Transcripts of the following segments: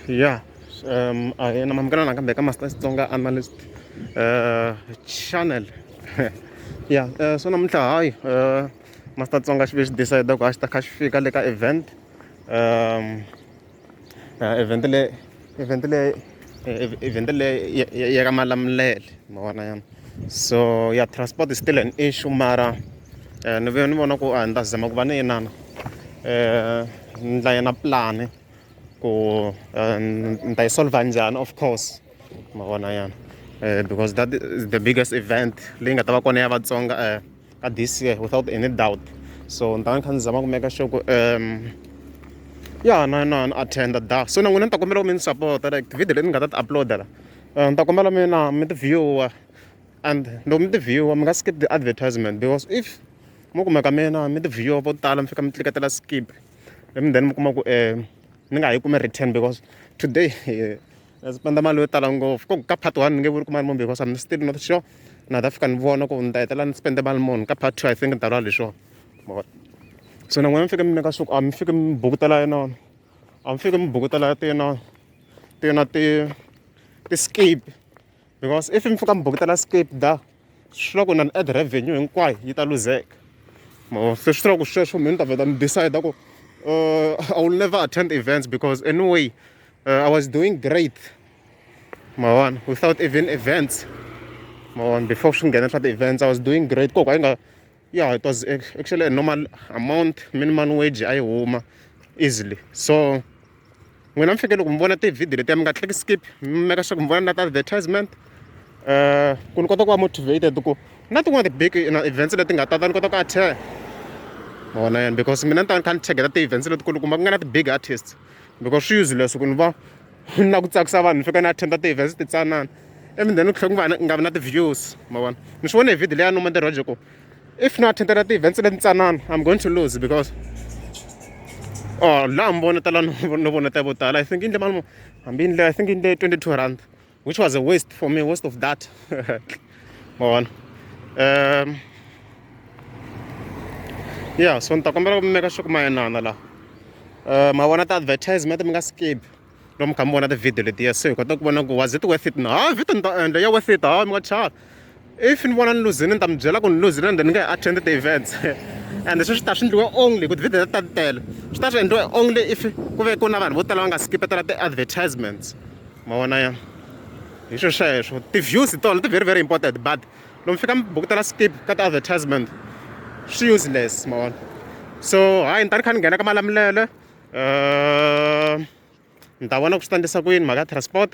ya um a hi na mamukela nakambe ka master xitsonga analyst uh, channel ya uh, so namuntlha hayi uh, master tsonga xi ve xi decide ku a xi ta kha xi fika le ka event um uh, event le event leyi event leyi ya ka malamulele ma vona yana so ya transport is still an issue mara um ni vuye ni vona ku a ni ta zama ku va ni inana um ni dlaya na pulani ku eh, ni ta yi solva njhani of course ma vona yana um because that is the biggest event leyi nga ta va kona ya vatsonga um ka this year without any doubt so ni ta ni kha ni zama ku meka sure ku um ya na na ni attenda da so na n'wina ni ta kombela ku mi ni support like tivhidiyo leti ni nga ta ti uploada la eh, ni ta kombela mi na mi ti viewer and loko mi ti viewer mi nga skip the advertisement because if mo kumeka mina mi ti viewer vo tala mi fika mi tliketela skip and then mi kuma ku um ni nga ha yi kumi return because today eh, a ndzi spenda mali yo tala ngopfu ko ka part one ni nge vuli ku mali muni because I'm still not sure na ta fika ni vona ku ni ta hetelela ni spende mali muni ka part two I think ni ta lwa leswiwa so na n'wina mi fike mi nyika swa ku a mi fike mi bukutela yinona a mi fike mi bukutela ti yinona ti yona ti ti-scape because if mi fika mi bukutela skipda swi vula ku na ad revenue hinkwayo yi ta luzeka mavona se swi tiva ku sweswo mi ni ta vheta mi decide ku uh, i will never attend events because anyway uh, i was doing great mavona without even events mavona before swi nghena swa ti-events i was doing great koko a yi nga yeah it was actually a normal amount minimum wage a yi huma easily so n'wina mi fike loko mi vona tivhidiyo letiya mi nga tleki skip mi meka swa ku mi vona na ti-advertisement um ku ni kota ku va motivated ku na tin'wana ti-big events leti nga tata ni kota ku attend ma vona yena because mina ni ta ni kha ni cheketa ti-events letikulu kumba ku nga na ti-big artists because swi useless ku ni va na ku tsakisa vanhu ni fika ni attenda ti-events titsanana even then ku tlhela ku va nga vi na ti-views ma vona ni swi vone hi video leya noma ntirho ku if no attendela ti-events leti ntsanana i'm going to lose because or oh, laha mi vonetela no voneta vo tala i think yindle mali mo hambi yindle i think yindle twenty two rand which was a waste for me waste of that ma vona um ya so ni ta kombela ku mi meka swa ku mayenana laha um ma vona ti-advertisement mi nga skip lomu kha mi vona tivhidiyo letiya se hi kota ku vona ku was it worth it na ha vito ni ta endla ya worth it ha mi nga chava if ni vona ni luzini ni ta mi byela ku ni luzini ende ni nge attend the events and sweswi ta swi endliwe only ku tivhidiyo ta ti tele swi ta swi endliwe only if ku ve ku na vanhu vo tala va nga skipetela ti-advertisements ma vona ya hi swilo sweswo ti-views hi tona ti very very important but lomu fika mi bukutela skip ka ti-advertisement swi useless ma vona so hayi ni ta ni kha ni nghena ka malamulele uh, ni ta vona ku swi ta endlisa ku yini mhaka ya transport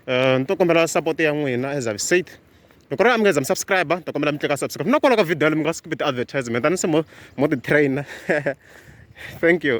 uh, ni to kombela support ya n'wina as i've said loko ri a mi nga za mi subscribe ni ta kombela mi tleka subscribe na kwala ka video yale mi nga skip ti-advertisement a ni se mo mo ti-trainer thank you